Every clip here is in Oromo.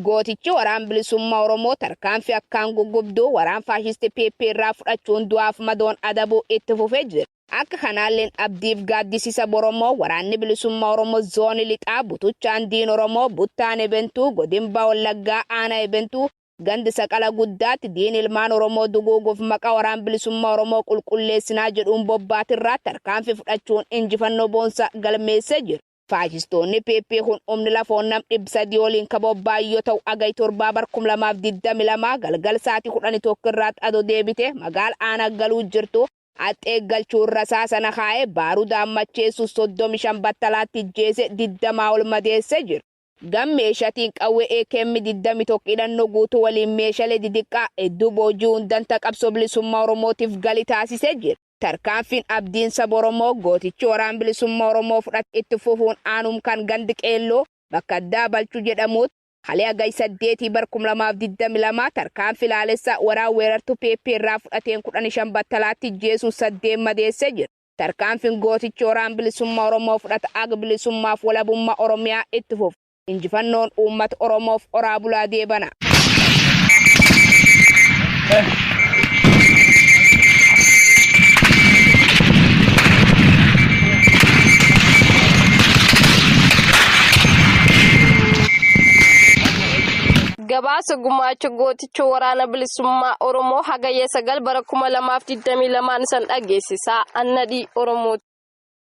Gootichi Waraan Bilisummaa Oromoo tarkaanfii akkaan guggubduu waraan faashisti PP irraa fudhachuun du'aaf madoon adabuu itti fufee jira. Akka kanaalleen abdiif gaaddisisa Boromoo Waraanni Bilisummaa Oromoo Zooni Lixaa butuchaan diin Oromoo buttaan Ebentuu godin Baha Wallaggaa aanaa Ebentuu Gand Saqala Guddaatti diin ilmaan Oromoo duguuguuf maqaa Waraan Bilisummaa Oromoo qulqulleessinaa jedhuun bobbaatirraa tarkaanfi fudhachuun injifannoo boonsaa galmeessee jira. Faashistoonni PP kun humni lafoon nam 300 oliin ka bobba'an yoo ta'u Hagay 7 bar 2022 galgal saatii 11 irraatti adoo deebitee magaala Aanaa Galuu jirtuu haxxee eeggalchuun rasaasa nakaa'ee baarudaan macheessuun 35 battalaatti ijjeesee 20 ol madeessee jira. Gam meeshatiin qawwee akm 21 hidhannoo guutuu waliin meeshale didiqqaa hedduu booji'uun danta qabsoo bilisummaa Oromootif gali taasise jira. Tarkaanfiin Abdiin saba Oromoo gootichi waraan bilisummaa Oromoo fudhate itti fufuun aanum kan gand Qeelloo bakka addaa Balchuu jedhamuutti kale Hagay 8 bar 2022 tarkaanfi laalessaa waraan weerartuu pp irraa fudhateen 15 battalaatti ijjeesuun 8 madeesse jira. Tarkaanfin gootichi Waraan Bilisumma Oromoo fudhata ag Bilisummaaf Walabumma Oromiyaa itt fufu. Injifannoon Uummata Oromoof Horaa Bulaa Deebanaa. Gabaasa Gumaacha Gooticha. Gammachuu Waraana Bilisummaa Oromoo Hagayya 9 bara 2022 isan dhageessisaa annadhii Oromoo.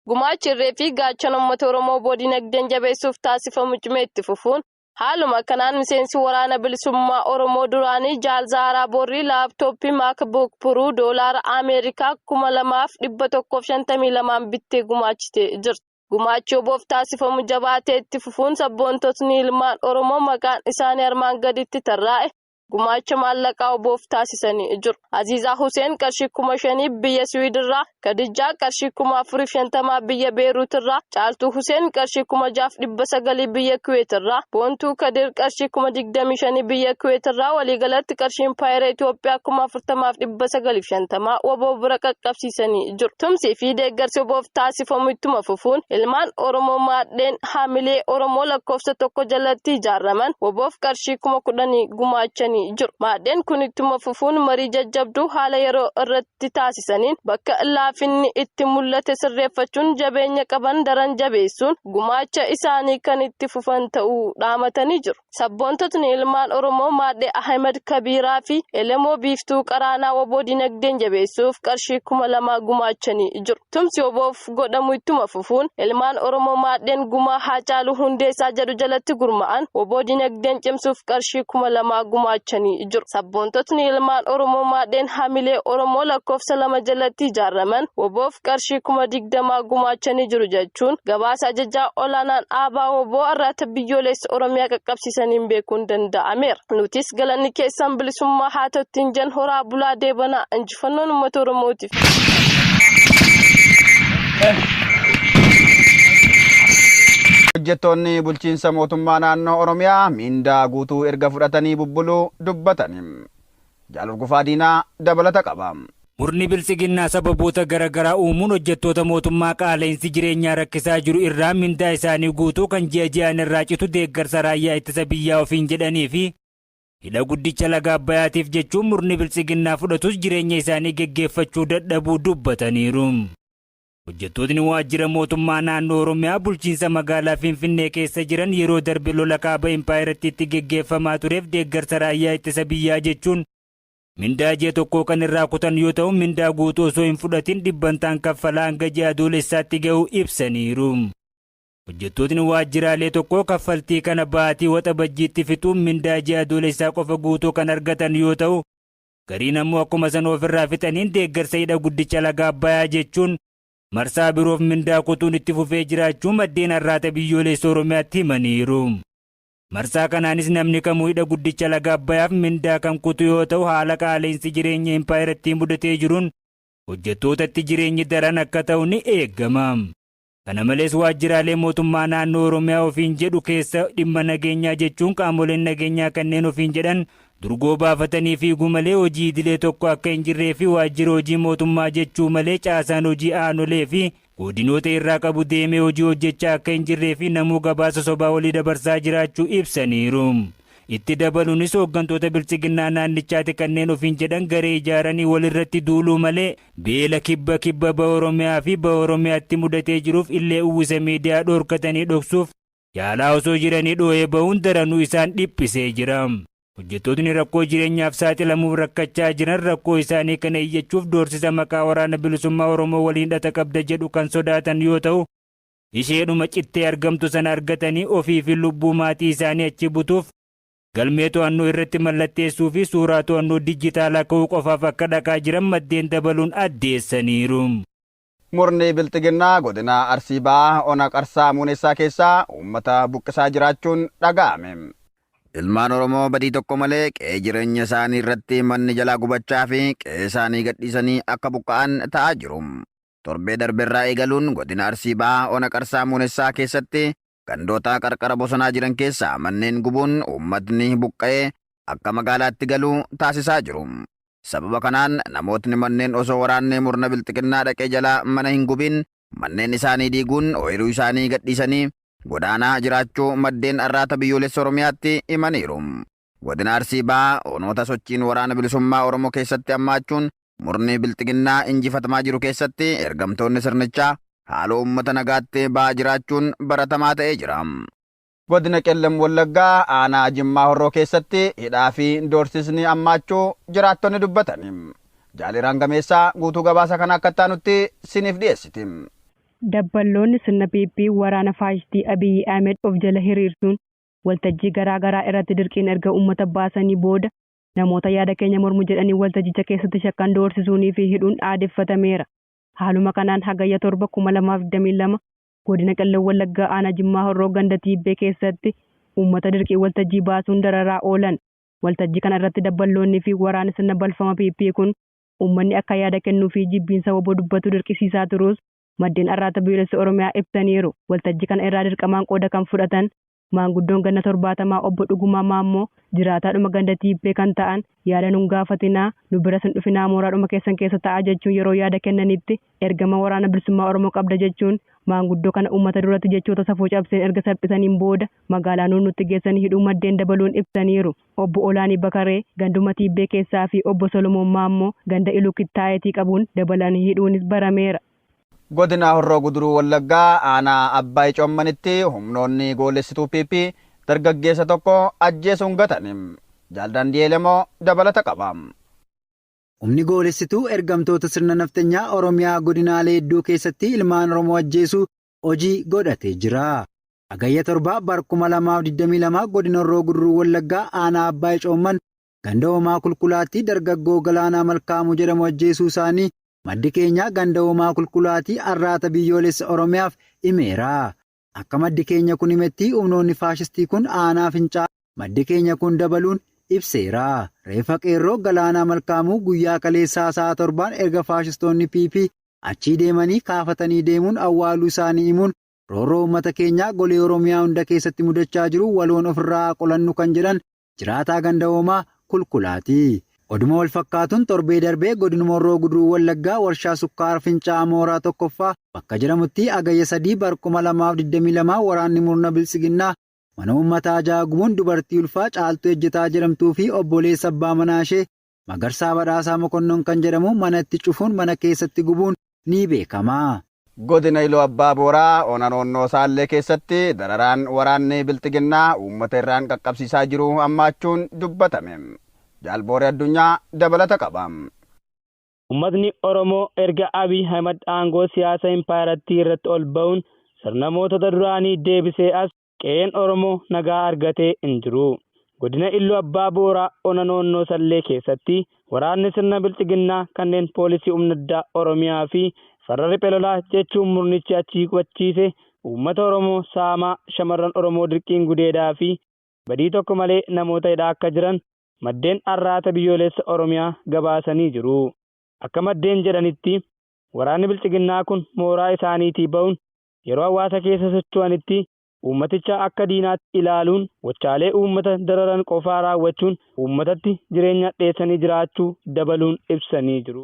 Gumaachi irree fi gaachana uummata Oromoo oboo dinagdeen jabeessuuf taasifamu cimee itti fufuun haaluma kanaan miseensi Waraana Bilisummaa Oromoo duraanii Jaal Zaaraa Borrii laaptooppii MacBook Pro doolaara Ameerikaa 2152 bittee gumaachitee jirti. Gumaachi oboof taasifamu jabaatee itti fufuun sabboontotni ilmaan Oromoo maqaan isaanii armaan gaditti tarraa'e gumaacha maallaqaa oboof taasisanii jiru. Aziizaa Huseen qarshii kuma shaniif biyya Siwiidirraa, Kadijjaa qarshii kuma afuriif shantamaa biyya Beeruutirraa, Caaltuu Huseen qarshii kuma jaaf dhibba sagalii biyya Kuweetirraa, Boontuu Kadir qarshii kuma digdamii shanii biyya Kuweetirraa waliigalatti qarshiin paayera Itoophiyaa kuma afurtamaaf dhibba sagaliif shantamaa waboo bira qaqqabsiisanii beeksisanii jiru. Tumsii fi deeggarsi oboof taasifamu ittuma fufuun ilmaan Oromoo maadheen haamilee Oromoo lakkoofsa tokko jalatti ijaaraman oboof qarshii kuma kudhanii gumaachanii jiru. Maadheen kun ittuma fufuun marii jajjabduu haala yeroo irratti taasisaniin bakka laafinni itti mul'ate sirreeffachuun jabeenya qaban daran jabeessuun gumaacha isaanii kan itti fufan ta'uu dhaamatanii jiru. Sabboontotni ilmaan Oromoo Maadhee Ahimad Kabiiraa fi Elemoo Biiftuu Qaraanaa wbo dinagdeen jabeessuuf qarshii kuma lama gumaachanii jiru. Tumsi WBOf godhamu ittuma fufuun ilmaan Oromoo maadheen gumaa Haacaaluu Hundeessaa jedhu jalatti gurma'an wbo dinagdeen cimsuuf qarshii kuma lama gumaachanii jiru. Sabboontotni ilmaan Oromoo maadheen hamilee Oromoo lakkoofsa lama jalatti ijaaraman WBOf qarshii kuma digdama gumaachanii jiru jechuun gabaasa ajajaa olaanaan aabaa wbo arraata biyyoolessa keessatti Oromiyaa qaqqabsiisaniin beekuun danda'ameera. Nutis galanni keessan bilisummaa haa ta'u ittiin jan horaa bulaa deebanaa injifannoon uummata Oromootiif. Hojjettoonni bulchiinsa mootummaa naannoo Oromiyaa miindaa guutuu erga fudhatanii bubbuluu dubbatani. Jaal Urgufaa Diinaa dabalata qaba. Murni Biltsiginnaa sababoota gara garaa uumuun hojjettoota mootummaa qaala'insi jireenyaa rakkisaa jiru irraa mindaa isaanii guutuu kan ji'a ji'aan irraa citu deeggarsa raayyaa ittisa biyyaa ofiin jedhanii fi hidha guddicha laga Abbayaatiif jechuun murni Biltsiginnaa fudhatus jireenya isaanii geggeeffachuu dadhabuu dubbataniiru. Hojjettootni waajjira mootummaa naannoo Oromiyaa bulchiinsa magaalaa Finfinnee keessa jiran yeroo darbe lola kaaba impaayerattiitti geggeeffamaa tureef deeggarsa raayyaa ittisa biyyaa jechuun mindaa ji'a tokkoo kan irraa kutan yoo ta'u mindaa guutuu osoo hin fudhatin dhibbantaan kaffalaa hanga ji'a adoolessaatti ga'u ibsaniiru. Hojjettootni waajjiraalee tokkoo kaffaltii kana baatii waxabajjiitti fixuun mindaa ji'a adoolessaa qofa guutuu kan argatan yoo ta'u Gariin ammoo akkuma sana ofirraa fixaniin deeggarsa hidha guddicha laga Abbayaa jechuun marsaa biroof mindaa kutuun itti fufee jiraachuu maddeen arraata biyyoolessa Oromiyaatti himaniiru. Marsaa kanaanis namni kamuu hidha guddicha laga Abbayaaf mindaa kan kutu yoo ta'u haala qaala'insi jireenya impaayerattii mudatee jiruun hojjettootatti jireenyi daran akka ta'u ni eegama. Kana malees waajjiraalee mootummaa naannoo Oromiyaa ofiin jedhu keessa dhimma nageenyaa jechuun qaamoleen nageenyaa kanneen ofiin jedhan durgoo baafatanii fiiguu malee hojii idilee tokko akka hin jirree fi waajjira hojii mootummaa jechuu malee caasaan hojii aanolee fi godinoota irraa qabu deemee hojii hojjechaa akka hin jirree fi namuu gabaasa sobaa olii dabarsaa jiraachuu ibsaniiru. Itti dabalunis hooggantoota biltsiginnaa naannichaati kanneen ofiin jedhan garee ijaaranii walirratti duuluu malee beela kibba kibba baha Oromiyaa fi baha Oromiyaatti mudatee jiruuf illee uwwisa miidiyaa dhoorkatanii dhoksuuf yaalaa osoo jiranii dhoohee bahuun daranuu isaan dhiphisee jira. Hojjettootni rakkoo jireenyaaf saaxilamuuf rakkachaa jiran rakkoo isaanii kana iyyachuuf doorsisa maqaa Waraana Bilisummaa Oromoo waliin hidhata qabda jedhu kan sodaatan yoo ta'u, isheedhuma cittee argamtu sana argatanii ofii fi lubbuu maatii isaanii achi butuuf galmee to'annoo irratti mallatteessuu fi suuraa to'annoo dijjitaalaa ka'uu qofaaf akka dhaqaa jiran maddeen dabaluun addeessaniiru. Murni Bilxiginnaa godina Arsii Bahaa ona Qarsaa Muunessaa keessaa uummata buqqisaa jiraachuun dhaga'ame. Ilmaan Oromoo badii tokko malee qe'ee jireenya isaanii irratti manni jalaa gubachaa fi qe'ee isaanii gadhiisanii akka buqqa'an ta'aa jiru. torbee darberraa eegaluun godina Arsii Bahaa ona Qarsaa Muunessaa keessatti gandoota qarqara bosonaa jiran keessaa manneen gubuun uummatni buqqa'ee akka magaalaatti galu taasisaa jiru. Sababa kanaan namootni manneen osoo waraanni murna bilxiginnaa dhaqee jalaa mana hin gubiin manneen isaanii diiguun ooyiruu isaanii gadhiisanii godaanaa jiraachuu maddeen Arraata Biyyoolessa Oromiyaatti himaniiru. Godina Arsii Bahaa onoota sochiin Waraana Bilisummaa Oromoo keessatti hammaachuun murni Bilxiginnaa injifatamaa jiru keessatti ergamtoonni sirnichaa haaloo uummata nagaatti ba'aa jiraachuun baratamaa ta'ee jira. Godina Qellem Wallaggaa aanaa Jimmaa Horroo keessatti hidhaa fi doorsisni hammaachuu jiraattonni dubbatan. Jaaliraan Gameessaa guutuu gabaasa kana akka itti aanutti siniif dhiyeessiti. Dabballoonni sirna PP waraana faashistii Abiyyi Ahmed of jala hiriirsuun waltajjii garaa garaa irratti dirqiin erga uummata baasanii booda namoota yaada keenya mormu jedhanii waltajjicha keessatti shakkan doorsisuunii fi hidhuun aadeffatameera. Haaluma kanaan Hagayya 7, 2022 Godina Qellem Wallaggaa Aanaa Jimmaa Horroo ganda Tiibbee keessatti uummata dirqiin waltajjii baasuun dararaa oolan. Waltajjii kana irratti dabballoonni fi waraanni sirna balfama PP kun uummanni akka yaada kennuu fi jibbiinsa wbo dubbatu dirqisiisaa turuus maddeen Arraata Biyyolessa Oromiyaa ibsaniiru. Waltajji kana irraa dirqamaan qooda kan fudhatan maanguddoon ganna 70 Obbo Dhugumaa Maammoo jiraataadhuma ganda Tiippee kan ta'an yaada nun gaafatinaa, nu biras hin dhufinaa mooraadhuma keessan keessa ta'aa jechuun yeroo yaada kennanitti ergama Waraana Bilisummaa Oromoo qabda jechuun maanguddoo kana uummata duratti jechoota safuu cabseen erga salphisaniin booda magaalaa Nuunnuutti geessanii hidhuu maddeen dabaluun ibsaniiru. Obbo Olaanii Bakaree ganduma Tiibbee keessaa fi Obbo Solomoon Maammoo ganda Iluu Kittaayeetii qabuun dabalanii hidhuunis barameera. Godina Horroo Guduruu Wallaggaa aanaa Abbaay Coommanitti humnoonni goolessituu PP dargaggeessa tokko ajjeesuun gatan. Jaal Daandi'eel Emoo dabalata qaba. Humni goolessituu ergamtoota sirna nafxanyaa Oromiyaa godinaalee hedduu keessatti ilmaan Oromoo ajjeesuu hojii godhatee jira. Hagayya 7 bar 2022 godina Horroo Guduruu Wallaggaa aanaa Abbaay Coomman ganda Hoomaa Kulkulaattii dargaggoo Galaanaa Malkaamuu jedhamu ajjeesuu isaanii maddi keenyaa ganda Hoomaa Kulkulaatii Arraata Biyyoolessa Oromiyaaf himeera. Akka maddi keenya kun himettii humnoonni faashistii kun aanaa Fincaa maddi keenya kun dabaluun ibseera. Reeffa qeerroo Galaanaa Malkaamuu guyyaa kaleessaa sa'a torbaan erga faashistoonni PP achii deemanii kaafatanii deemuun awwaaluu isaanii himuun, roorroo uummata keenyaa golee Oromiyaa hunda keessatti mudachaa jiru waloon ofirraa haa qolannu kan jedhan jiraataa ganda Hoomaa Kulkulaati. Oduma walfakkaatuun torbee darbee godinuma Horroo Guduruu Wallaggaa warshaa sukkaara Fincaa'aa Mooraa 1ffaa bakka jedhamuttii Hagayya 3 bar 2022 waraanni murna biltsiginnaa mana uummataa 6 gubuun dubartii ulfaa Caaltuu Ejjetaa jedhamtuu fi obboleessa abbaa manaa ishee Magarsaa Badhaasaa Mokonnon kan jedhamu mana itti cufuun mana keessatti gubuun ni beekama. Godina Iluu Abbaa Booraa ona Noonnoo Saallee keessatti dararaan waraanni Bilxiginnaa uummata irraan qaqqabsiisaa jiru hammaachuun dubbatame. Jaal Booree Addunyaa dabalata qaba. Ummatni Oromoo erga Abiy Ahimad aangoo siyaasa impaayerattii irratti ol ba'uun sirna mootota duraanii deebisee as, qe'een Oromoo nagaa argatee hin jiru. Godina Illu Abbaa Booraa ona Noonnoo Sallee keessatti waraanni sirna bilxiginnaa kanneen poolisii humna addaa Oromiyaa fi farra riphe lolaa jechuun murnichi achii qubachiise uummata Oromoo saamaa, shamarran Oromoo dirqiin gudeedaa fi badii tokko malee namoota hidhaa akka jiran maddeen Arraata Biyyooleessa Oromiyaa gabaasanii jiru. Akka maddeen jedhanitti, waraanni bilxiginnaa kun mooraa isaaniitii ba'uun yeroo hawaasa keessa socho'anitti uummaticha akka diinaatti ilaaluun gochaalee uummata dararan qofaa raawwachuun uummatatti jireenya hadheessanii jiraachuu dabaluun ibsanii jiru.